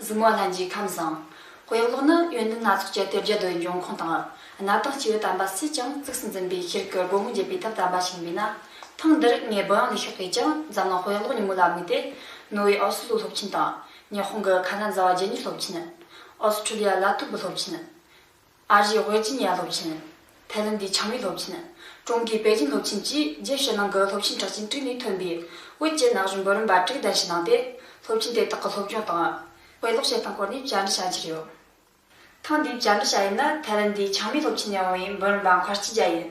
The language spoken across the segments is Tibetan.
གཟིགས་མོ་ལྷན་གྱིས་ཁམས་བཟང། དཔེ་ཀློག་ནི་ཡོན་ཏན་སྣ་ཚོགས་ཀྱི་གཏེར་རྒྱ་དོན་འབྱུང་ཁུངས་དང། གནའ་དང་སྐྱེས་བུ་དམ་པ་སུས་ཀྱང་གཙིགས་སུ་འཛིན་པའི་ཤེལ་གྱི་སྒོ་མོ་འབྱེད་པའི་ཐབས་དམ་པ་ཞིག་མིན་ན། ཐེངས་འདིར་ངས་བུ་ཡང་ལས་ཤོག་གིས་ཀྱང་འཛམ་གླིང་དཔེ་ཀློག་ཉིན་མོ་ལ་དམིགས་ཏེ། ནོར་ཝེ་ཨོ་སི་ལུའི་སློབ་ཆེན་དང། ཉི་ཧོང་གི་ཁ་ན་ཛ་བ་རྗེ་ཉིད་སློབ་ཆེན། ཨོ་སི་ཁྲུ་ལི་ཡ་ལ་ཐུ་བུ་སློབ་ཆེན། ཨ་རིའི་ཝེར་ཇི་ནི་ཡ་སློབ་ཆེན། ཐའེ་ལན་དའི་ཆང་ཡུལ་སློབ་ཆེན། ཀྲུང་གོའི་པེ་ཅིན་སློབ་ཆེན་བཅས་རྒྱས་བཤད་གནང་སྐབས་སློབ་ཆེན་གྲགས་ཅན་དྲུག་ནས་ཐོན་པའི་ཝེར་བཅས་ནག་གཞུང་འབོད་རིམ་པ་དྲུག་གདན་ཞུ་གནང་སྟེ་སློབ་ཆེན་དེ་དག་གི་སློབ་སྦྱོང་དང། དཔེ་ཀློག་བྱེད་སྟངས་སྐོར་ནས་བཅར་འདྲི་བྱ་རྒྱུ་ཡོད། ཐེངས་འདིའི་བཅར་འདྲི་བྱ་ཡུལ་ནི་ཐའེ་ལན་དའི་ཆང་མའི་སློབ་ཆེན་ནས་འོང་བའི་འབོད་རིམ་པ་མཁར་སྐྱིད་རྒྱ་ཡིན།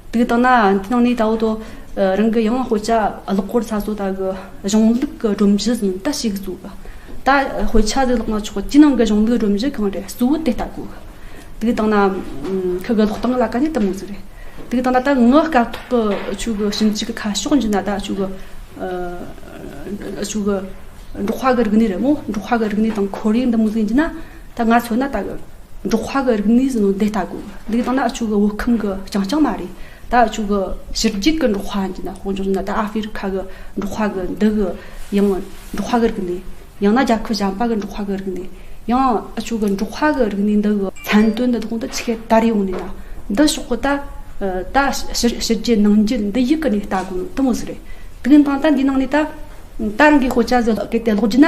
དུས་དང་ན་འདི་ནང་ནས་ད་བོད་དོ་རང་གི་ཡང་བྷོད་ཆ་གློག་སྐོར་ཚ་སོ་ད་གི་གཞུང་ལུགས་གི་སྒྲོམ་གཞི་ཟིན་ལྟ་ཞིག་གཟུག་གི་ད་བྷོད་ཆ་ཟིག་ལོག་ན་ཆོག་ཅི་ནང་གི་གཞུང་ལུགས་སྒྲོམ་གཞི་གང་རེད་གཟུག་དེ་ལྟ་གོ་དུས་དང་ན་ཁི་གི་ལོག་སྟངས་ལ་ག་ནས་ལྟ་མོ་ཟིག་རེད་དུས་དང་ན་ད་ངི་སྐབས་ཐོག་གི་ཆུ་གི་ཞིང་གཅིག་གི་ཁ་ཕྱོགས་འཇུ་ན་ད་ཆུ་གི་ཆུ་གི་འབྲོག་ཁ་གི་རིག་གནས་རེད་མོ་འབྲོག་ཁ་གི་རིག་གནས་དང་ཁོར་ཡུག་འདི་མོ་ཟིག་འཇུ་ན་ད་ང་ཚོ་ནི་ད་གི་འབྲོག་ཁ་གི་རིག་གནས་སུ་ནི་འདི་ལྟ་གོ། འདི་དང་ན་ཨ་ཆུ་གི་བོད་ཁམས་གི་རྐྱང་རྐྱང་མ་རེད། ད་ཨ་ཆུ་གི་ཕྱི་རྒྱུད་གི་འབྲོག་ཁ་ཡིན་ན་དཔོན་ཆུང་ཡིན་ན་ད་ཨ་ཧྥེ་རི་ཁ་གི་འབྲོག་ཁ་གི་འདི་གི་ཡང་འབྲོག་ཁ་གི་རིག་གནས། ཡང་ན་རྒྱལ་ཁབ་གཞན་པ་གི་འབྲོག་ཁ་གི་རིག་གནས། ཡང་ཨ་ཆུ་གི་འབྲོག་ཁ་གི་རིག་གནས་འདི་གི་མཚན་དོན་འདི་དག་འདི་ཆི་ཁའི་དར་ཡོང་ནས་ན། འདི་ཕྱོགས་གི་ད་ད་ཕྱི་རྒྱུད་ནང་རྒྱུད་འདི་ཡིག་གི་ནས་ལྟ་གོ་ནི་དུ་མོ་ཟི་རེད། དུ་གི་ནང་ད་འདིའི་ནང་ནས་ད་ད་རང་གི་ཤོ་ཅཱ་ཟི་གི་དེ་ལོག་རྒྱུ་ན།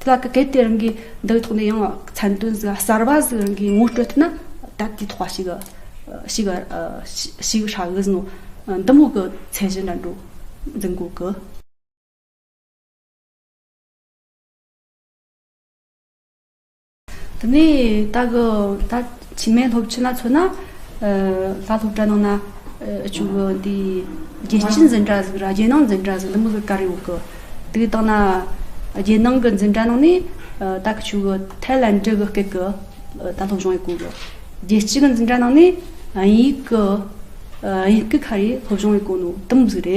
དེ་ལ་གལ་ཏེ་རང་གིས་འདི་ཐོག་ནས་ཡང་མཚན་དོན་གསར་པ་ཞིག་རང་གིས་ངོ་སྤྲོད་ཐུབ་ན་ད་ལྟའི་ཐོག་ཞིག་ཞིག་ཧྲ་གི་ཟིན་ནོ། འདི་མོ་གི་ཚད་གཞི་འདྲ་འགྲོ་འཛིན་དགོས་གི། དེ་ནས་ད་གི་ད། ཕྱི་མའི་སློབ་ཆེན་ལ་མཚོན་ན། ལྷ་སློབ་གྲྭ་ནང་ན། ཆུ་བོ་འདི། རྒྱལ་སྤྱིའི་འཛིན་གྲྭ་ཟིག་ར་རྒྱལ་ནང་འཛིན་གྲྭ་ཟིག་འདི་མི་ལུས་ཀ་རེ་འོག་གི། དེ་དང་ན། རྒྱལ་ནང་གི་འཛིན་གྲྭ་ནང་ནས། ད་གི་ཆུ་བོ་ཐའི་ལན་དྲི་གི་སྐད་གི། ད་སློབ་སྦྱོང་ཡི་གོ་གི། རྒྱལ་སྤྱི་གི་འཛིན་གྲྭ་ནང་ནས། དབྱིན་ཡིག་གི། དབྱིན་ཡིག་གི་ཁ་རེ་སློབ་སྦྱོང་ཡི་གོ་ནོ་དི་མི་ཟིག་རེད།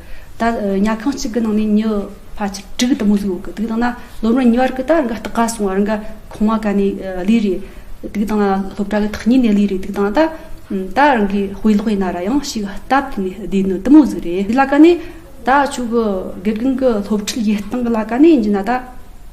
ད་ཉལ་ཁང་གཅིག་གི་ནང་ནས་ཉི་ཕ་ཆིག་ཁྲི་གི་དུ་མོ་བཟོས་ཡོད་གི་དུག་དང་ན་ལོ་རུ་ཉི་བར་གི་དར་འགའ་སྟག་ག་སོང་བར་འགའ་ཁོང་མ་ག་ནས་ལུས་རེད་དུག་དང་ན་སློབ་གྲྭ་གི་ཐག་ཉེ་ནས་ལུས་རེད་དུག་དང་ད་ད་རང་གི་དཔེ་ལོག་ཡིན་ན་ར་ཡང་ཞིག་སྟབས་བསྟུན་ནས་བསྡད་ནི་དུ་མོ་བཟོས་རེད་དེ་ལ་ག་ནས་ད་ཁྱོད་གི་དགེ་རྒན་གི་སློབ་ཁྲིད་ཡེ་སྟང་གི་ལ་ག་ནས་འཇུས་ན་ད།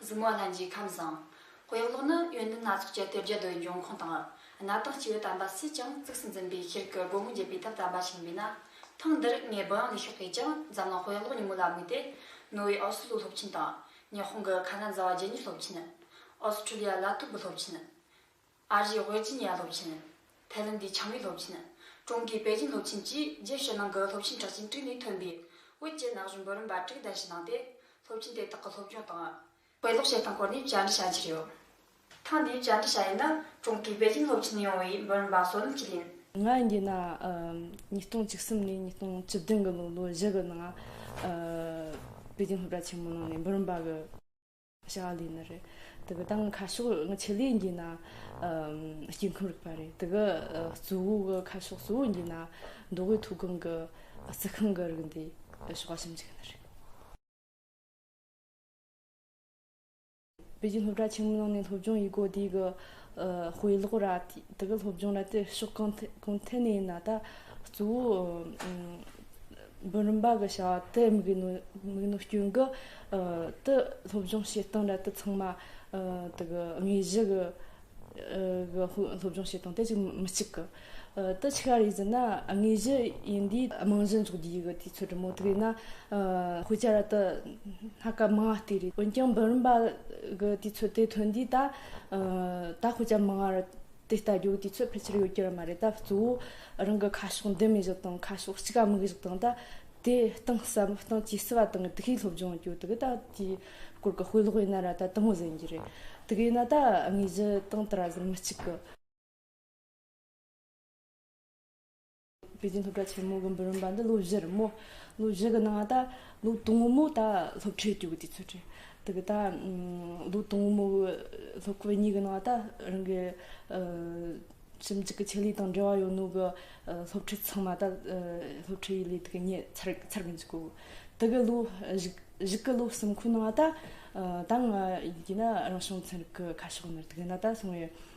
གཟིགས་མོ་བླ་མཆིས་ཁམས་བཟང། དཔེ་ཀློག་ནི་ཡོན་ཏན་སྣ་ཚོགས་ཀྱི་དེབ་བརྒྱ་རྡོའི་འབྱུང་ཁུངས་དང། གནའ་དང་སྐྱེས་བུ་དམ་པ་སུས་ཀྱང་གཙིགས་སུ་འཛིན་པའི་ཤེལ་གྱི་སྒོ་མོ་འབྱེད་པའི་ཐབས་དམ་པ་ཆེན་པོའི་ན་ཐང་འདིར་ངས་བུ་ཡང་ལས་ཤོག་གིས་ཀྱང་འཛམ་གླིང་དཔེ་ཀློག་ཉིན་མོ་ལ་དམིགས་ཏེ། ནོ་ཝེ་ཨོ་སི་ལུ་སློབ་ཆེན་དང། ཉི་ཧོང་གི་ཁ་ན་ཛ་བ་རྗེ་ཉིད་སློབ་ཆེན། ཨོ་སི་ཁྲུ་ལི་ཡ་ལ་ཐུབ་བུ་སློབ་ཆེན། ཨ་རིའི་ཝེར་ཇི་ནི་ཡ་སློབ་ཆེན། ཐའེ་ལན་དའི་ཆང་བིས་སློབ་ཆེན། ཀྲུང་གོའི་པེ་ཅིན་སློབ་ཆེན་བཅས་རྒྱས་བཤད་གནང་སྐབས་སློབ་ཆེན་གྲགས་ཅན་དྲུག་ནས་ཐོན་པའི་དབུས་བཅས་ནག་གཞུང་འབོད་རིམ་པ་དྲུག་གདན་ཞུ་གནང་སྟེ་སློབ་ཆེན་དེ་དག་གི་སློབ་སྦྱོང་དང། དཔེ་ཀློག་བྱེད་སྟངས་སྐོར་ནས་བཅར་འདྲི་བྱ་རྒྱུ་རེད། ཐེངས་འདིའི་བཅར་འདྲི་བྱ་ཡུལ་ནི་ཀྲུང་གོའི་པེ་ཅིན་སློབ་ཆེན་ཡོང་བའི་འབོད་རིམ་པ་སོ་ནམ་གཅིག་ཡིན། ང་འདི་ན་ཉིས་སྟོང་བཅུ་གསུམ་ནས་ཉིས་སྟོང་བཅུ་བདུན་གྱི་ལོ་ལོ་བཞི་གི་ནང་པེ་ཅིན་སློབ་གྲྭ་ཆེན་མོའི་ནང་ནས་འབོད་རིམ་པ་གི། བྱ་བ་ལས་ནི་རེད། དེ་གི་དང་གི་ཁ་ཕྱོགས་ནི་ཆེད་ལས་འགྱིས་ན་སྐྱེ་ཁམས་རིག་པ་རེད། དེ་གི་གཙོ་བོ་གི་ཁ་ཕྱོགས་གཙོ་བོ་འགྱིས་ན་མདོ་དབུས་མཐོ་སྒང་གི་རྩི་ཤིང་གི་རིགས་འདི་ཕྱོགས་བཞི་འགྱིས་ནི་རེད། བོད་ཀྱི་སློབ་གྲྭ་ཆེན་མོའི་ནང་ནས་སློབ་སྦྱོང་ཡི་གོ་དེ་གི་དཔེ་ཀློག་ར་དེ་གི་སློབ་སྦྱོང་ར་དེ་ཕྱོགས་གང་ཐད་ནས་ཡིན་ན་ད་གཙོ་བོ་འབུམ་རམས་པ་གི་བྱ་བ་དེ་མིག་རྣོ་སྐྱོན་གྱི་དུ་སློབ་སྦྱོང་བྱེད་སྟངས་རལ་དུ་ཚང་མ་དུ་གི་དངོས་གཞི་གི་སློབ་སྦྱོང་བྱེད་སྟངས་དེ་ཅིག་མི་གཅིག་གི་དུ་ཆི་ག་རེ་ཟེར་ན་དངོས་གཞི་ཡིན་དུས་རྨང་གཞི་འཛུགས་རྒྱུ་ཡི་གི་དུས་ཚོད་དྲུག་མོ་དུ་ཡིན་ན་དབུ་ཅར་རལ་དུ་སྣ་ཀ་མང་བ་དེ་རེད་འོན་ཀྱང་འབུམ་རམས་པ་གི་དུས་ཚོད་དེ་ཐོན་དུས་ད་ད་དབུ་ཅར་མང་བ་རེད། དེ་ལྟ་རྒྱུ་དེ་ཚོད་ཕལ་ཆེར་ཡོད་རྒྱུ་རང་མ་རེད་ད་གཙོ་བོ་རང་གི་ཁ་ཕྱོགས་འདི་མི་བཞག་དང་ཁ་ཕྱོགས་གཅིག་ག་མིག་བཞག་དང་ད་དེ་སྟེང་བསམ་བློ་བཏང་ཇི་སྲིད་བ་དང་གི་དུ་ཤེས་སློབ་སྦྱོང་རྒྱུ་དགི་ད་དེའི་སྐོར་གི་དཔེ་ཀློག་ཡིན་ན་ར་ད་དང་བོ་ཟིན་རྒྱུ་རེད་དེ་གི་ཡིན་ན་ད་དངོས་གཞི་སྟེང་དེ་ར་ཟིན་མི་གཅིག་གི། པེ་ཅིན་སློབ་གྲྭ་ཆེན་མོ་གི་འབུམ་རམས་པ་འདི་ལོ་བཞིར་མོ། ལོ་བཞི་གི་ནང་ད་ལོ་དང་བོ་མོ་ད་སློབ་ཁྲིད་བསྐྱོད་གི་དུས་ཚོད་དྲན། དེ་གི་ད་ལོ་དང་བོ་མོ་གི་སློབ་ཁོ་གཉིས་གི་ནང་ད་རང་གི་ཞིབ་འཇུག་གི་ཆེད་ལས་དང་འབྲེལ་བ་ཡོད་ནོ་གི་སློབ་ཁྲིད་ཚང་མ་ད་སློབ་ཁྲིད་ཡུལ་ལས་དེ་གི་ཉེ་ཚར་ཚར་གི་འཇུག་གོ། དེ་གི་ལོ་བཞི་གི་ལོ་གསུམ་ཁོ་ནང་ད་ད་ང་ཡི་གེ་ན་རང་བྱུང་ཚན་རིག་གི་ཁ་ཕྱོགས་ནི་དེ་གི་ནང་ད་སོང་བའི།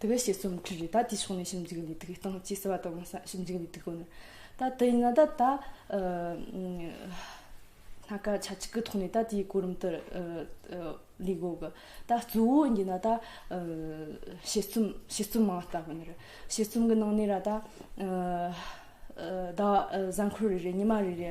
དེ་བས་ཞེས་རྩོམ་འབྲི་རེ་ད་དེའི་ཕྱོགས་ནས་ཞིབ་འཇུག་འདི་དགོས་སྟངས་ཅི་ཟེར་བ་དང་ཞིབ་འཇུག་འདི་དགོས་ན་ད་དེ་ཡིན་ན་ད་ད་སྣ་ཁ་ཆ་གཅིག་གི་ཐོག་ནས་ད་དེའི་གོ་རིམ་ལྟར་ལས་དགོས་གི་ད་གཙོ་བོ་ཡིན་ན་ད་ཞེས་རྩོམ་ཞེས་རྩོམ་མང་ལྟ་བུ་ནི་ཞེས་རྩོམ་གི་ནང་ནས་ར་ད་ཟ་འཁོར་རེ་རེ་ཉི་མ་རེ་རེ་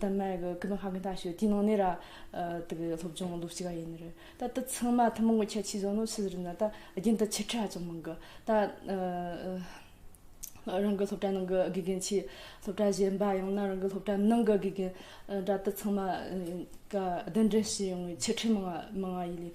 དུ་མར་གྱི་སྐུ་ཕུང་ཧ་གི་འདའ་ཞོད་དེའི་ནང་ནས་ར་དུ་གི་སློབ་སྦྱོང་སློབ་བྱེད་ག་ཡིན་ནི་རེད་ད་དུ་ཚང་མ་ཐུན་མོང་གི་ཁྱད་ཆོས་ཟོ་ནོ་ཤི་ཟི་རི་ན་ད་རྒྱུན་དུ་ཆིག་ཁྲ་ཧ་ཅང་མང་གི་ད་རང་གི་སློབ་གྲྭ་ནང་གི་དགེ་རྒན་ཆེ་སློབ་གྲྭ་གཞན་པ་ཡང་ན་རང་གི་སློབ་གྲྭ་ནང་གི་དགེ་རྒན་འདྲ་དུ་ཚང་མ་ག་བདེན་འདྲེན་བྱེད་ཡོང་བའི་ཆིག་ཁྲི་མང་བ་མང་བ་ཡི་ལས་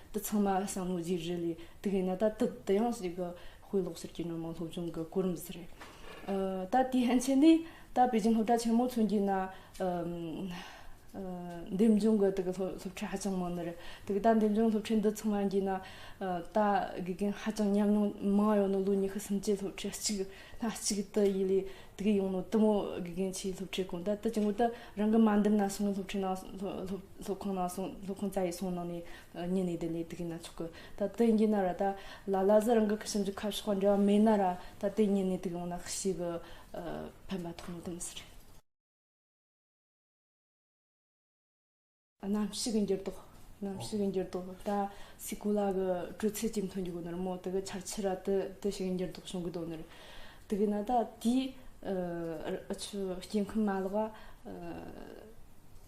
དེ་ཚང་མ་བསམ་བློ་བརྗེ་རེས་ལས་དུག་ཡིན་ན་ད་དུག་དུ་ཡང་ཞིག་དཔེ་ཀློག་ཟེར་གྱི་ནོར་མང་སློབ་སྦྱོང་གི་གོ་རིམ་ཟེར་རེད། ད་དེའི་ཕན་ཆད་ནི་ད་པེ་ཅིང་སློབ་གྲྭ་ཆེན་མོ་ཚུན་གྱི་ན་འདེམས་སྦྱོང་གི་དུག་སློབ་ཁྲིད་ཧ་ཅང་མང་ནི་རེད་དུག་ད་འདེམས་སྦྱོང་སློབ་ཁྲིད་འདི་ཚང་མ་གྱི་ན་ད་དགེ་རྒན་ཧ་ཅང་ཉམས་མྱོང་མང་ཡོད་ནོ་ལོ་ཉི་ཤུ་སུམ་ཅུའི་སློབ་ཁྲིད་གཅིག་སྣ་གཅིག་དུ་ཡི་ལས་དུག་ཡོང་ནོ་དུ་མོ་དགེ་རྒན་ཆེའི་སློབ་ཁྲིད་གོང་ད་དུ་ཅིང་གོ་ད་རང་གི་མ་འདེམས་ན་སོང་ངས་སློབ་ཁྲིད་ནང་སློབ་སློབ་ཁང་ནང་སོང་སློབ་ཁང་རྩ་ཡིག་སོང་གནང་ནས་ཉིན་ནས་དེ་ནས་དེ་གིས་ན་ཆོག་གི་ད་དེ་ཡིན་གྱི་ན་ར་ད་ལ་ལ་ཟི་རང་གི་ཁྱིམ་གྱི་ཁ་ཕྱོགས་འབྲེལ་བ་མེད་ན་ར་ད་དེ་ཉིན་ནས་དེ་གིས་ཡོང་ན་ཤི་གི་ཕན་པ་ཐོག་མེད་དུ་མི་ཟེར། གནམ་གཤིས་ཀྱི་འགྱུར་ལྡོག་གནམ་གཤིས་ཀྱི་འགྱུར་ལྡོག་ད་སའི་གོ་ལ་གི་དྲོད་ཚད་ཇེ་མཐོ་འགྱུར་གི་ནི་ར་མོ་དེ་གི་ཆར་ཆུ་ར་དེ་དེ་ཞིག་གི་འགྱུར་ལྡོག་བྱུང་གི་དོ་ནི་ར་དེ་གིས་ན་ད་དེའི་ཨ་ཆུ་སྐྱེ་ཁམས་མ་ལག་ཨ།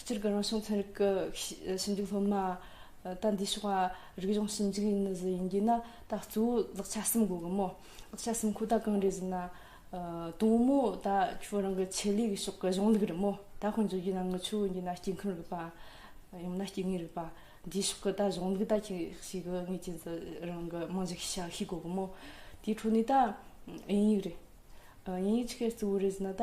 སྤྱིར་སྒར་རང་བྱུང་ཚན་རིག་གི་ཞིབ་འཇུག་སློབ་མ་དག་འདིའི་ཕྱོགས་ལ་རིག་གཞུང་ཞིབ་འཇུག་ཡིན་ནི་ཟི་ཡིན་རྒྱུ་ན་ད་གཙོ་བོ་ལག་ཆ་གསུམ་དགོས་གི་མོད་ལག་ཆ་གསུམ་ཁོ་ད་གང་རེད་ཟེར་ན། དང་མོ་ད་ཁྱོད་རང་གི་ཆེད་ལས་ཀྱི་ཕྱོགས་ཀྱི་གཞུང་ལུགས་རེད་མོ་ད་དཔོན་བཙུགས་རྒྱུ་ན་ངི་ཆོས་དབྱིན་གྱི་ན་སྐྱེས་ཁམས་རིག་པ། ཡང་ན་སྐྱེ་དངོས་རིག་པ། འདིའི་ཕྱོགས་ཀྱི་ད་གཞུང་ལུགས་ད་ཁྱེད་ཤེས་གི་ངེས་ཀྱི་ཟི་རང་གི་རྨང་གཞི་ཤ་ཤེས་དགོས་གི་མོ། དེའི་འཕྲོ་ནས་ད་དབྱིན་ཡིག་རེད། དབྱིན་ཡིག་ཆི་ཁའི་གཙོ་བོ་རེད་ཟེར་ན་ད།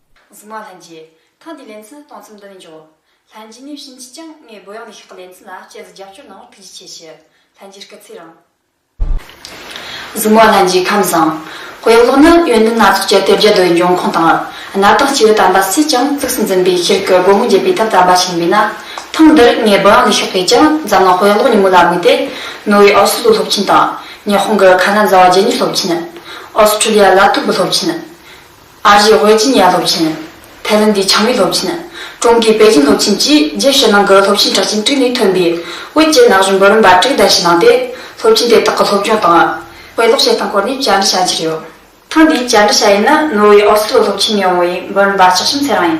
གཟིགས་མ་ལྷན་རྒྱས། ཐེངས་འདིའི་ལེ་ཚན་སྟོང་ཚིམས་འདི་ནས་འཇོག། ལྷན་རྒྱས་ནས་ཕྱིན་ཅི་ཀྱང་ངའི་བུ་ཡང་ནས་ཤོག་གི་ལེ་ཚན་ལ་དཔྱད་གཟིགས་རྒྱབ་སྐྱོར་གནང་བར་ཐུགས་རྗེ་ཆེ་ཞུ། ལྷན་རྒྱས་སྐུ་ཚེ་རིང། གཟིགས་མ་ལྷན་རྒྱས་ཁམས་བཟང། དཔེ་ཀློག་ནི་ཡོན་ཏན་སྣ་ཚོགས་ཀྱི་དེབ་བརྒྱ་རྡོའི་འབྱུང་ཁུངས་དང། གནའ་དང་སྐྱེས་བུ་དམ་པ་སུས་ཀྱང་གཙིགས་སུ་འཛིན་པའི་ཕྱིར་གྱི་སྒོ་མོ་འབྱེད་པའི་ཐབས་དམ་པ་ཞིག་མིན་ན། ཐེངས་འདིར་ངའི་བུ་ཡང་ནས་ཤོག་གིས་ཀྱང་འཛམ་གླིང་དཔེ་ཀློག་ཉིན་མོ་ལ་དམིགས་ཏེ། ནོར་ཝེའི་ཨོ་སི་ལུའི་སློབ་ཆེན་དང། ཉི་ཧོང་གི་ཁ་ན་ཛ་བ་རྗེ་ཉིད་སློབ་ཆེན། ཨོ་སི་ཁྲུ་ལི་ཡ་ལ་ཐུམ་པུ་སློབ་ཆེན། ཨ་རིའི་ཝེར་ཇི་ནི་ཡ་སློབ་ཆེན། ཐའེ་ལེན་དཱའི་ཆང་ཡུལ་སློབ་ཆེན། ཀྲུང་གོའི་པེ་ཅིན་སློབ་ཆེན་བཅས་རྒྱས་བཤད་གནང་གི་སློབ་ཆེན་གྲགས་ཅན་དྲུག་ནས་ཐོན་པའི་དབུས་ཀྱི་ནག་གཞུང་འབུམ་རམས་པ་དྲུག་བརྡལ་བཤིག་གནང་སྟེ་སློབ་ཆེན་དེ་དག་གི་སློབ་སྦྱོང་དང། དཔེ་ཀློག་བྱེད་སྟངས་སྐོར་ནས་བཅར་འདྲི་བྱ་རྒྱུ་རེད། ཐེངས་འདིའི་བཅར་འདྲི་བྱ་ཡུལ་ནི་ནོར་ཝེ་ཨོར་སི་ལོ་སློབ་ཆེན་ཡོང་བའི་འབུམ་རམས་པ་ལྕགས་ཤམ་ཚེ་རང་ཡིན།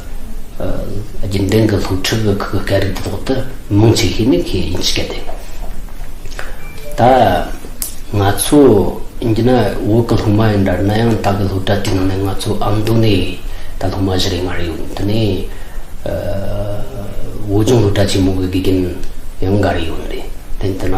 རྒྱུན་ལྡན་གྱི་སློབ་ཁྲིད་ཀྱི་སྐབས་སྐད་རིགས་དེ་དག་ཏུ་མང་ཆེ་ཤོས་ནི་ཁོས་ཡིན་ཤེས་ཏེ། ད་ང་ཚོ་འདི་ན་འོག་གི་སློབ་མ་ཡིན་འདྲ་ན་ཡང་ད་གི་སློབ་གྲྭ་དེའི་ནང་ནས་ང་ཚོ་ཨ་མདོ་ནས་ད་སློབ་མ་བཞི་རེ་ལྔ་རེ་ཡོད་འདི་ནས་འོག་ལྗོངས་སློབ་གྲྭ་ཆེན་མོ་གི་དགེ་རྒན་ཡང་འགའ་རེ་ཡོད་རེད་དེ་འདི་ན།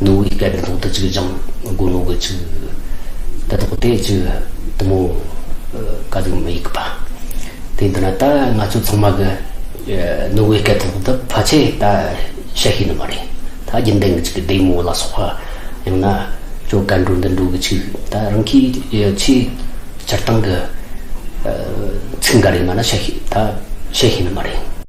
ནོར་བུའི་སྐལ་ལྡན་ཐོག་ཏུ་ཅིག་ལྗང་གུ་ནོར་བུ་ཅིག། དེ་ཐོག་དེ་ཅིག་དུ་མོ་དཀར་ཡུམ་མི་ཡུག་པ། དེ་འདི་ན་ད་ང་ཚོ་ཚང་མ་གི་ནོར་བུའི་སྐལ་ཐོག་ཏུ་ཕ་ཆེ་ད་ཤ་ཤེད་ནི་མ་རེད་ད་རྒྱུན་ལྡན་གི་ཅིག་བདེ་མོ་ལ་སོགས་པ་ཡང་ན་ཁྱོད་སྐལ་འགྲོ་འདི་འགྲོ་གི་ཅིག་ད་རང་གི་ཆེ་སྤྱིར་བཏང་གི་ཚིག་འགའ་རེ་ང་ན་ཤ་ཤེད་ད་ཤ་ཤེད་ནི་མ་རེད།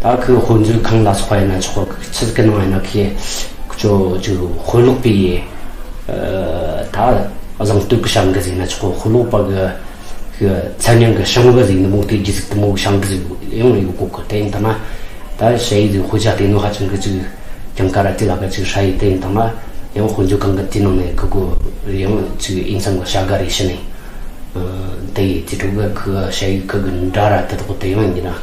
ད་ཁོས་དཔོན་ཚུལ་གང་ལ་སོགས་པ་ཡིན་ན་ཆོག་གི་ཕྱི་གི་ནང་ཡིན་ན་ཁོས་ཇོ་ཇོ་དཔོན་ལོག་པའི་ད་བཟང་སྟོད་ཀྱི་ཤང་གི་ཟིག་ན་ཆོག་གི་དཔོན་ལོག་པ་གི་གི་མཚན་ཉིང་གི་ཤང་གི་ཟིག་ནི་མོག་དེ་རྒྱུ་ཟིག་དུ་མོག་ཤང་གི་ཟིག་ཡང་ཡོད་དགོས་གི་དེ་ཡིན་དང་ན་ད་ཞེ་ཡིག་ཟིག་དཔེ་ཆ་བལྟས་ནོ་ཧ་ཅང་གི་ཅིག་ཀྱང་ཀ་ར་ཏི་ལ་ཀ་ཅིག་ཧྲ་ཡིག་དེ་ཡིན་དང་ན་ཡང་དཔོན་ཚུལ་གང་གི་དེའི་ནང་ནས་གི་གོ་རེ་ཡང་ཅིག་དབྱིན་ཚང་གི་བྱ་ག་རེ་བྱེད་ནས་དེ་ཡིས་དེ་དྲུག་གི་གི་ཞེ་ཡིག་གི་གི་འདྲ་ར་དེ་དག་དེ་ཡང་ཡིན་ན།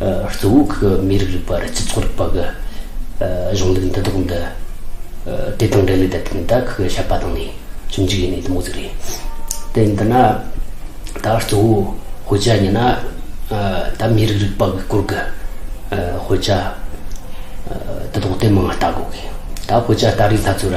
གཙོ་བོ་གི་མི་རིགས་རིག་པ་རི་སྤྱི་ཚོགས་རིག་པ་གི་གཞུང་ལུགས་འདི་དག་འདི་དེ་དང་འབྲེལ་ལས་དེ་དག་གི་བཤད་པ་དང་ནི་ཁྱིམ་གཅིག་ཡིན་ནི་དུ་མ་ཟིག་རེད། དེ་འདི་ན་ད་གཙོ་བོ་ཧོལ་རྒྱ་ཉི་ན་ད་མི་རིགས་རིག་པ་གི་སྐོར་གི་ཧོལ་རྒྱ་དེ་དག་དེ་མང་ལྟ་དགོས་གི། ད་ཧོལ་རྒྱ་ལྟ་རིག་ལྷ་ཚོ་ར།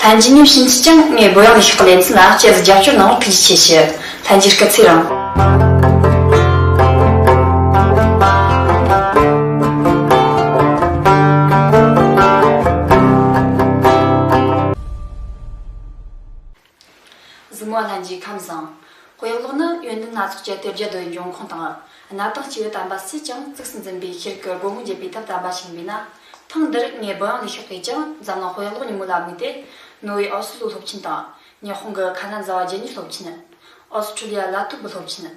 ལྷན་གྱི་ཉིན་ཕྱིན་ཅི་ཀྱང་ངས་སྒོ་ཡངས་ནས་ཤོག་ལེ་འཛིན་ལ་སྐྱེས་སུ་རྒྱབ་སྐྱོར་གནང་བར་ཐུགས་རྗེ་ཆེ་ཞུ། ལྷན་གྱི་སྐུ་ཚེ་རིང། གཟིགས་མོ་ལྷན་གྱི་ཁམས་བཟང། དཔེ་ཀློག་ནི་ཡོན་ཏན་སྣ་ཚོགས་ཀྱི་དེབ་བརྒྱ་འདོད་འབྱུང་ཁུངས་དང། གནའ་དང་སྤྱི་བོའི་དམ་པ་སུས་ཀྱང་གཙིགས་སུ་འཛིན་པའི་ཤེལ་གྱི་སྒོ་མོ་འབྱེད་པའི་ཐབས་དམ་པ་ཞིག་མིན་ན། ཐེངས་འདིར་ངས་བོད་ཡིག་ལས་ཤོག་དེས་ཀྱང་འཛམ་གླིང་ཧོལ་གློག་ཉིན་མོ་ལ་དམིགས་ཏེ། ནོར་ཝེ་ཨོ་སི་ལུའུ་སློབ་ཆེན་དང། ཉི་ཧོང་གི་ཁ་ན་ཛ་བ་རྒྱལ་གཉེར་སློབ་ཆེན། ཨོ་སི་ཁྲུ་ལི་ཡ་ལ་ཏུག་གི་སློབ་ཆེན།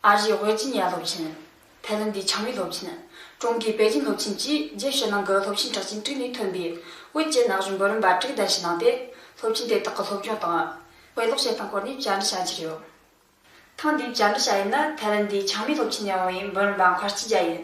ཨ་རིའི་བྷེར་ཇི་ནི་ཡ་སློབ་ཆེན། ཐའེ་ལན་དུའི་ཆང་མིག་སློབ་ཆེན། ཀྲུང་གོའི་པེ་ཅིན་སློབ་ཆེན་བཅས་རྒྱལ་ཕྱི་ནང་གི་སློབ་ཆེན་གྲགས་ཅན་དྲུག་ནས་ཐོན་པའི་བོད་ཀྱི་ན་གཞོན་འབུམ་རམས་པ་དྲུག་གདན་ཞུ་གནང་སྟེ། སློབ་ཆེན་དེ་དག་གི་སློབ་སྦྱོང་དང། དཔེ་ཀློག་བྱེད་སྟངས་སྐོར་ནས་བཅར་འདྲི་བྱ་འཆར་ཡོད། ཐེངས་འདིའི་བཅར་འདྲི་བྱ་ཡུལ་ནི་ཐའེ་ལན་དུའི་ཆང་མིག་སློབ་ཆེན་ནས་འོང་བའི་འབུམ་རམས་པ་མཁར་སྐྱིད་རྒྱ་ཡིན།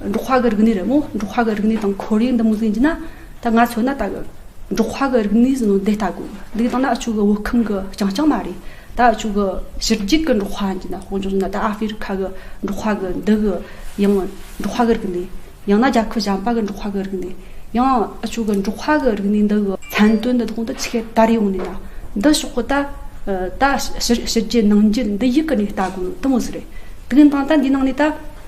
འབྲོག་ཁ་གི་རིག་གནས་རེད་མོད། འབྲོག་ཁ་གི་རིག་གནས་དང་ཁོར་ཡུག་འདི་མུ་ཟིན་གྱི་ན། ད་ང་ཚོ་ན་ད་གི། འབྲོག་ཁ་གི་རིག་གནས་ཟིན་ནོ་འདི་ལྟ་གོ། འདི་ད་ན་ཨ་ཅུག་གི་བོད་ཁམས་གི་རྐྱང་རྐྱང་མ་རེད། ད་ཨ་ཅུག་གི་ཕྱི་རྒྱུད་གི་འབྲོག་ཁ་གྱི་ན་ཧོང་ཅོག་ན་ད་ཨ་ཧྥེ་རི་ཁ་གི་འབྲོག་ཁ་གི་འདི་གི། ཡང་འབྲོག་ཁ་གི་རིག་གནས། ཡང་ན་རྒྱ་ཁུ་ཞམ་པ་གི་འབྲོག་ཁ་གི་རིག་གནས། ཡང་ཨ་ཅུག་གི་འབྲོག་ཁ་གི་རིག་གནས་འདི་གི། མཚན་དོན་འདི་དག་འདི་ཆེ་གེ་དར་ཡོང་ནས་ན། འདི་ཕྱོགས་གི་ད། ད་ཕྱི་རྒྱུད་ནང་རྒྱུད་འདི་ཡིག་གི་ནས་ལྟ་གོ་ནོ་དི་མོ་ཟི་རེད། དེ་གི་ནང་ད་འདི་ནང་ནས་ད།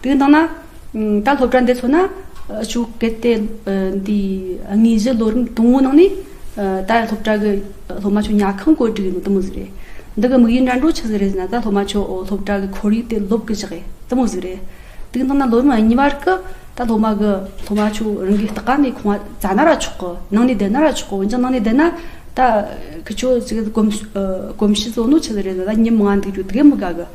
དེ་ནང་ན་ད་སློབ་གྲྭ་འདི་ཚོ་ན་ཕྱུགས་གལ་ཏེ་འདི་དངོས་གཞི་ལོ་རིམ་དང་བོ་ནང་ནས་ད་སློབ་གྲྭ་གི་སློབ་མ་ཆོས་ཉག་ཁང་བཀོད་སྒྲིག་ཡིན་ནོ་ལྟ་མོ་ཟིག་རེད། འདི་གི་དམིགས་ཡུལ་འགྲན་སྒྲོག་ཆི་ཟིག་རེད་ཟེར་ན་ད་སློབ་མ་ཆོས་སློབ་གྲྭ་གི་ཁོར་ཡུག་དེ་སློབ་གི་བཞག་ཨེ་ལྟ་མོ་ཟིག་རེད། དེ་ནང་ན་ལོ་རིམ་གཉིས་བར་གི་ད་སློབ་མ་གི་སློབ་མ་ཆོས་རང་གི་སྟག་ཁང་ནས་ཁང་བ་རྩ་ན་ར་ཆོག་གི་ནང་ནས་བསྡད་ན་ར་ཆོག་གི་འོན་ཀྱང་ནང་ནས་བསྡད་ན་ད་ཁྱོད་ཀྱི་གོམས་གཤིས་བཟོ་ནོ་ཆི་ཟིག་རེད་ཟེར་ན་ཉིན་མང་འདུག་རྒྱུ་དགེ་མི་དགའ་གི།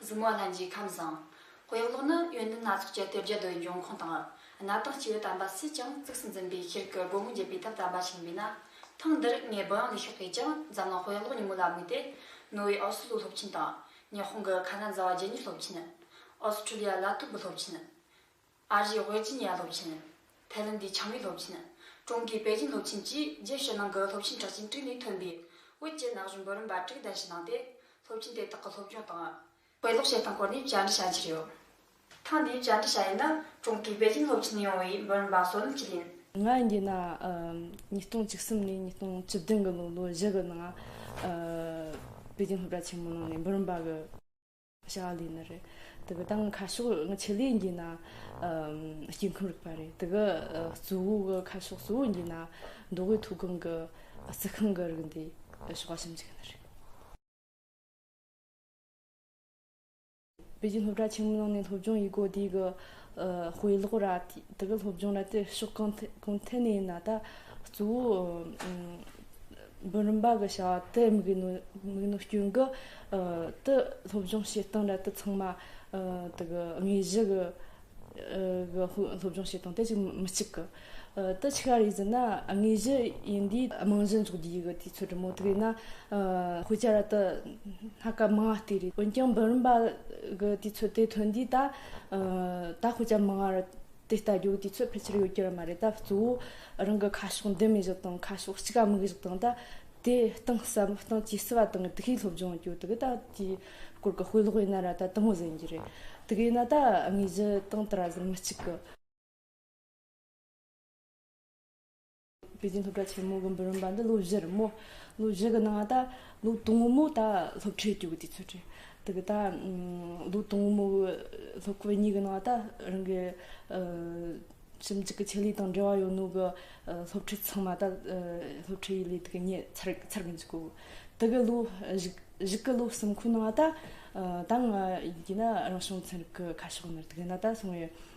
གཟུགས་མ་ལྷན་ཅིག་ཁམས་བཟང། དཔེ་ཀློག་ནི་ཡོན་ཏན་སྣ་ཚོགས་ཀྱི་དེབ་བརྒྱ་རྡོའི་འབྱུང་ཁུངས་དང། གནའ་དང་སྤྱི་བོའི་དམ་པ་སུས་ཀྱང་གཙིགས་སུ་འཛིན་པའི་ཤེལ་གྱི་སྒོ་མོ་འབྱེད་པའི་ཐབས་དམ་པ་ཆེན་པོའི་ན་ཐང་འདིར་ངས་བུ་ཡང་ལས་ཤོག་གིས་ཀྱང་འཛམ་གླིང་དཔེ་ཀློག་ཉིན་མོ་ལ་དམིགས་ཏེ། ནོ་བྷེལ་ཨོ་སི་ལོའི་སློབ་ཆེན་དང། ཉི་ཧོང་གི་ཁ་ན་ཛ་བ་རྗེ་ཉིད་སློབ་ཆེན། ཨོ་སི་ཁྲུ་ལི་ཡ་ལ་ཐུབ་བུ་སློབ་ཆེན། ཨ་རིའི་ཝེར་ཇི་ནི་ཡ་སློབ་ཆེན། ཐའེ་ལན་དའི་ཆང་བིས་སློབ་ཆེན། ཀྲུང་གོའི་པེ་ཅིན་སློབ་ཆེན་བཅས་རྒྱས་བཤད་གནང་གི་སློབ་ཆེན་གྲགས་ཅན་དྲུག་ནས་ཐོན་པའི་བོད་བཅས་ན་གཞོན་འབུམ་རམས་པ་དྲུག་གདན་ཞུ་གནང་སྟེ་སློབ་ཆེན་དེ་དག་གི་སློབ་སྦྱོང་དང། དཔེ་ཀློག་བྱེད་སྟངས་སྐོར་ནས་བཅར་འདྲི་བྱ་རྒྱུ་རེད། ཐེངས་འདིའི་བཅར་འདྲི་བྱ་ཡུལ་ནི་ཀྲུང་གོའི་པེ་ཅིན་སློབ་ཆེན་ནས་ཡོང་བའི་འབུམ་རམས་པ་བསོད་ནམས་སྐྱིད་ཡིན། ང་འདི་ན་ཉིས་སྟོང་བཅུ་གསུམ་ནས་ཉིས་སྟོང་བཅུ་བདུན་གྱི་ལོ་ལོ་བཞི་གི་ནང་པེ་ཅིན་སློབ་གྲྭ་ཆེན་མོའི་ནང་ནས་འབུམ་རམས་པ་གི་བྱ་བ་ལས་ནི་རེད། དེ་གི་ད་ང་ཁ་ཕྱོགས་ང་ཆེད་ལས་འགྱིན་ན་སྐྱེ་ཁམས་རིག་པ་རེད། དེ་གི་གཙོ་བོ་གི་ཁ་ཕྱོགས་གཙོ་བོ་འགྱིན་ན་མདོ་དབུས་མཐོ་སྒང་གི་རྩི་ཤིང་གི་རིགས་འདི་ཕྱོགས་པ་ཞིབ་འཇུག་གི་ནི་རེད། པེ་ཅིན་སློབ་གྲྭ་ཆེན་མོའི་ནང་ནས་སློབ་སྦྱོང་ཡི་གོ་དེ་གི་དཔེ་ཀློག་ར་དེ་གི་སློབ་སྦྱོང་ར་དེ་ཕྱོགས་གང་ཐད་ནས་ཡིན་ན་ད་གཙོ་བོ་འབུམ་རམས་པ་གི་བྱ་བ་དེ་མིག་རྣོ་སྐྱོན་གྱི་དུ་སློབ་སྦྱོང་བྱེད་སྟངས་འདྲ་དུ་ཚང་མ་དག་དངོས་གཞི་གི་སློབ་སྦྱོང་བྱེད་སྟངས་དེ་ཅིག་མི་གཅིག་གི་དུ་ཆི་ག་རེ་ཟིན་ན་དངོས་གཞི་ཡིན་དུས་རྨང་གཞི་འཛུགས་རྒྱུ་ཡི་གི་དུས་ཚོད་དྲོ་མོ་དགོས་ན་དཔེ་ཆ་ར་དུ་སྣ་སྐ་མང་བ་ལྟོས་རེད་འོན་ཀྱང་འབུམ་རམས་པ་གི་དུས་ཚོད་དེ་ཐོན་དུས་ད་དཔེ་ཆ་མང་བ་ར་དེ་ལྟ་རྒྱུ་དེ་ཚོ་ཕལ་ཆེར་ཡོད་རྒྱུ་རང་མ་རེད་ད་གཙོ་བོ་རང་གི་ཁ་ཕྱོགས་འདི་མི་བཞག་དང་ཁ་ཕྱོགས་གཅིག་ག་མིག་བཞག་དང་ད་དེ་སྟེང་ཟབ་མོ་སྟེང་ཇི་སྲིད་བ་དང་གི་དགེ་སློབ་སྦྱོང་རྒྱུ་དེ་གི་ད་དེའི་སྐོར་གི་དཔེ་ཀློག་ཡིན་ན་ར་ད་དང་བོ་ཟིན་རྒྱུ་རེད་དེ་གི་ཡིན་ན་ད་དངོས་གཞི་སྟེང་དེ་ར་ཟིན་མི་གཅིག་གི། པེ་ཅིན་སློབ་གྲྭ་ཆེན་མོ་དགོན་པར་རིམ་པ་འདི་ལོ་བཞིར་མོ་ལོ་བཞི་གི་ནང་ད་ལོ་དང་བོ་མོ་ད་སློབ་ཁྲིད་རྒྱུགས་དུས་ཚོད་དྲན་དུ་གི་ད་ལོ་དང་བོ་མོ་གི་སློབ་ཁོ་བོ་གཉིས་གི་ནང་ད་རང་གི་ཞིབ་འཇུག་གི་ཆེད་ལས་དང་འབྲེལ་བ་ཡོད་ནོ་གི་སློབ་ཁྲིད་ཚང་མ་ད་སློབ་ཁྲིད་ཡི་ལས་དུ་གི་ཉེ་ཚར་ཚར་གི་འཇུག་གོ་དུ་གི་ལོ་བཞི་གི་ལོ་གསུམ་ཁོ་ནང་ད་ད་ང་ཡིན་ན་རང་བྱུང་ཚན་རིག་གི་ཁ་ཕྱོགས་ནི་དུ་གི་ནང་ད་སོང་བའི་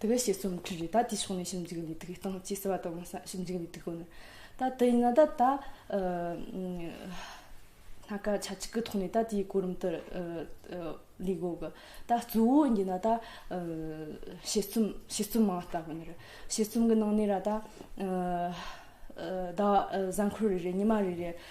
དེ་གའི་བཤད་སྲོལ་མི་འཁྲུལ་རེད་ད་དེའི་ཕྱོགས་ནས་ཞིབ་འཇུག་འདི་དགོས་སྟངས་ཅི་ཟེར་བ་དང་ཞིབ་འཇུག་འདི་དགོས་ནི་ད་དེ་ཡིན་ན་ད་ད་སྣ་ཁ་ཆ་གཅིག་གི་ཐོག་ནས་ད་དེའི་གོ་རིམ་ལྟར་ལས་དགོས་གི་ད་གཙོ་བོ་ཡིན་ན་ད་བཤད་སྲོལ་བཤད་སྲོལ་མང་ལྟ་བུ་ནི་རེད་བཤད་སྲོལ་གི་ནང་ནས་ར་ད་ཟླ་བ་གཟའ་འཁོར་རེ་རེ་ཉི་མ་རེ་རེ་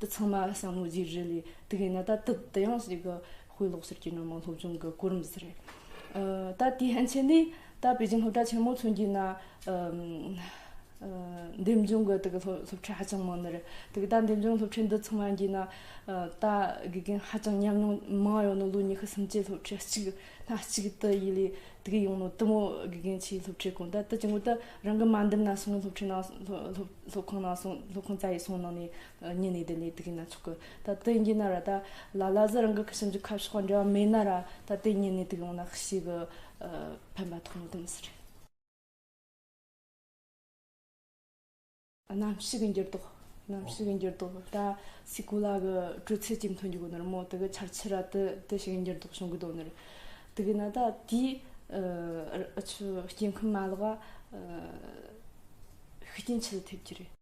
དེ་ཚང་མ་བསམ་བློ་བརྗེ་རེས་ལས་དེ་གས་ན་ད་དུ་དེ་ཡང་ཞིག་གི་དཔེ་ཀློག་ཟེར་གྱི་ནོར་མང་སློབ་སྦྱོང་གི་གོ་རིམ་ཟེར་རེད། ད་དེའི་ཕན་ཆད་ནི་ད་པེ་ཅིང་སློབ་གྲྭ་ཆེན་མོ་ཚུན་གྱི་ན་འདེམས་སྦྱོང་གི་དེ་གི་སློབ་ཁྲིད་ཧ་ཅང་མང་ནི་རེད་དེ་གི་ད་འདེམས་སྦྱོང་སློབ་ཁྲིད་འདི་ཚང་མ་གྱི་ན་ད་དགེ་རྒན་ཧ་ཅང་ཉམས་མྱོང་མང་ཡོང་ནི་ལོ་ཉི་ཤུ་སུམ་ཅུའི་སློབ་ཁྲིད་གཅིག་སྣ་གཅིག་དུ་ཡི་ལས་དེ་གི་ཡོང་ནི་དུ་མོ་དགེ་རྒན་ཆེའི་སློབ་ཁྲིད་གོང་ད་དེ་ཅིང་གུ་ད་རང་གི་མ་འདེམས་ན་སོང་ངའི་སློབ་ཁྲིད་ནང་སློབ་སློབ་ཁང་ནང་སོང་སློབ་ཁང་རྩ་ཡིག་སོང་གནང་ནས་ཉིན་ནས་དེ་ནས་དེ་གི་ན་ཆོག་གི་ད་དེ་ཡིན་གྱི་ན་ར་ད་ལ་ལ་ཟི་རང་གི་ཁྱིམ་གྱི་ཁ་ཕྱོགས་འབྲེལ་བ་མེད་ན་ར་ད་དེ་ཉིན་ནས་དེ་གི་ཡོང་ན་ཤི་གི་ཕན་པ་ཐོག་མེད་དུ་མི་སྲིད་རེད། གནམ་གཤིས་ཀྱི་འགྱུར་ལྡོག་གནམ་གཤིས་ཀྱི་འགྱུར་ལྡོག་ད་སི་ཀུ་ལ་གི་དྲོད་ཚད་ཅིག་འཐོན་རྒྱུ་གི་ནི་ར་མོ་དེ་གི་ཆར་ཆུ་ར་དེ་དེ་ཞིག་གི་འགྱུར་ལྡོག་བྱུང་གི་དོ་ནི་རེད་དེ་གི་ན་ད་དེའི་ཨ་ཆུ་སྐྱེ་ཁམས་མ་ལག་ག། ཤུགས་རྐྱེན་ཆེ་ལ་ཐེབས་ཀྱི་རེད།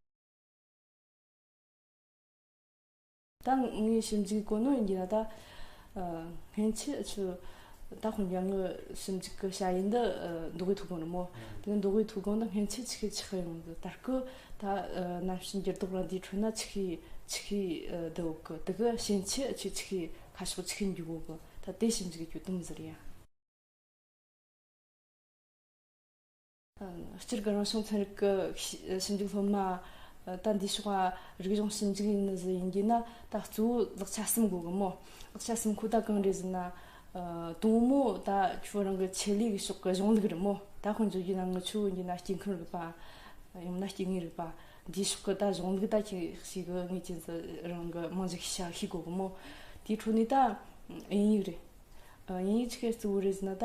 ད་ངའི་ཞིབ་འཇུག་གོ་གནས་ཡིན་གྱི་ད་ལྟ་སྔན་ཆད་ཆུ་ད་ཁོ་འཇང་ངའི་ཞིབ་འཇུག་གི་བྱ་ཡུལ་འདི་མདོ་དབུས་ཐུགས་དགོངས་རི་མོ་དེ་མདོ་དབུས་ཐུགས་དགོངས་འདི་སྔན་ཆད་ཆི་ཤི་ཆི་ཤི་ཡོང་གི་ད་སྐུ་ད་གནམ་ཞིང་འགྱུར་ལྡོག་རང་དེའི་ཁྲོད་ན་ཆི་ཤི་ཆི་ཤི་འདི་འོག་གི་དེ་གི་ཞེན་ཆད་ཆུ་ཆི་ཤི་ཁ་ཕྱོགས་ཆི་ཤི་འགྱུར་འོག་གི་ད་དེ་ཞིབ་འཇུག་གི་གྱོད་དུམ་ཟེར་ཡ། སྤྱིར་སྒལ་རང་བྱུང་ཚན་རིག་གི་ཞིབ་འཇུག་སློབ་མ་ད་འདིའི་ཕྱོགས་ལ་རིག་གཞུང་ཞིབ་འཇུག་ཡིན་ནི་ཟི་ཡིན་རྒྱུ་ན་ད་གཙོ་བོ་ལག་ཆ་གསུམ་དགོས་གི་མོད་ལག་ཆ་གསུམ་ཁོ་ད་གང་རེད་ཟེར་ན། དང་མོ་ད་ཁྱོད་རང་གི་ཆེད་ལས་ཀྱི་ཕྱོགས་ཀྱི་གཞུང་ལུགས་རེད་མོ་ད་དཔོན་བཙུགས་རྒྱུ་ན་ངི་ཆོས་ཡིན་རྒྱུ་ན་སྐྱེ་ཁམས་རིག་པ། ཡང་མིན་ན་སྐྱེ་དངོས་རིག་པ་འདིའི་ཕྱོགས་ཀྱི་ད་གཞུང་ལུགས་ད་ཁྱེད་ཤེས་གི་ངེས་ཅན་ཟི་རང་གི་རྨང་གཞི་ཤ་ཤེས་དགོས་གི་མོ་དེའི་འཕྲོ་ནས་ད་དབྱིན་ཡིག་རེད། དབྱིན་ཡིག་ཆི་ཁའི་གཙོ་བོ་རེད་ཟེར་ན་ད།